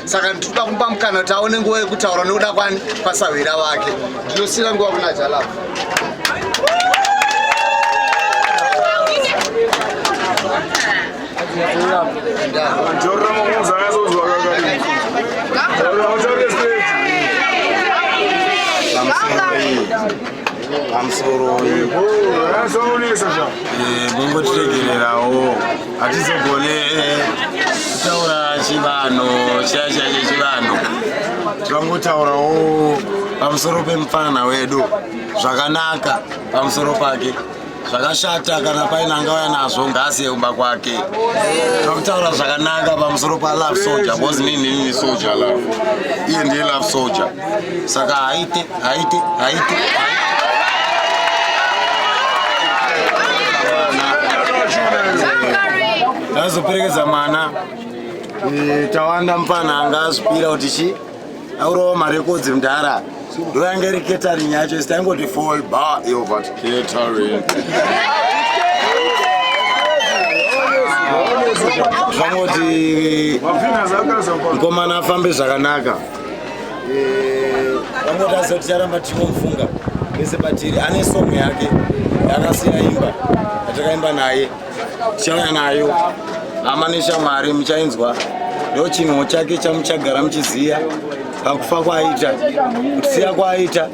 saka ndikuda kumupa mukana kuti aone nguva yekutaura nokuda kwani pasahwira vake ndinosiira nguva kuna jalava pamusoroi eh, mungotiregererawo hatizogone eh, kutaura chivanhu chiya chiya chechivanhu tivangotaurawo pamusoro pemupfanana wedu zvakanaka pamusoro pake zvakashata kana paine angauya nazvo ngaasi yekumba kwake takutaura zvakanaka pamusoro palove soldier bcause nini nini soldier love iye ndiye love soldier saka haite Haite, haite. Azoperekedza mwana eh, tawanda mupana anga azvipira kuti chi aurawo marekodzi mudhara ndoyange iri catering yacho isi taingoti fall bar yobva catering zvangoti mkomana afambe zvakanaka Eh, vangotadza kuti charamba tichinomufunga vese patiri ane song yake yakasiya imba yatakaimba naye tichauya nayo hama neshamwari muchainzwa ndo chinhuwo chake chamuchagara muchiziya pakufa kwaaita kusiya kwaaita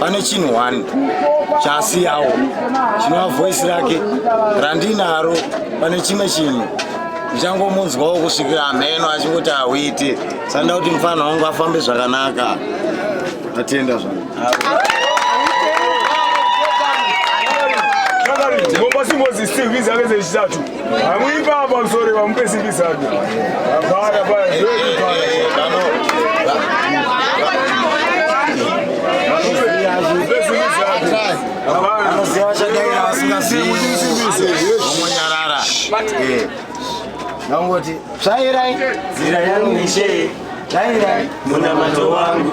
pane chinhu one chaasiyawo chinova voice rake randinaro pane chimwe chinhu ndichangomunzwawo kusvikira hameno achingoti hauite sanda kuti mufanha wangu afambe zvakanaka atenda zvangu Moses still, he's always a statue. Amuipapa msori vamupe simbi zake. Hapana paya zvedu paya. Anoziva chakaira vasingazivi. Omonyarara. Eh. Nangoti, tsvairai. Zira yangu ishe. Tsvairai. Munamato wangu.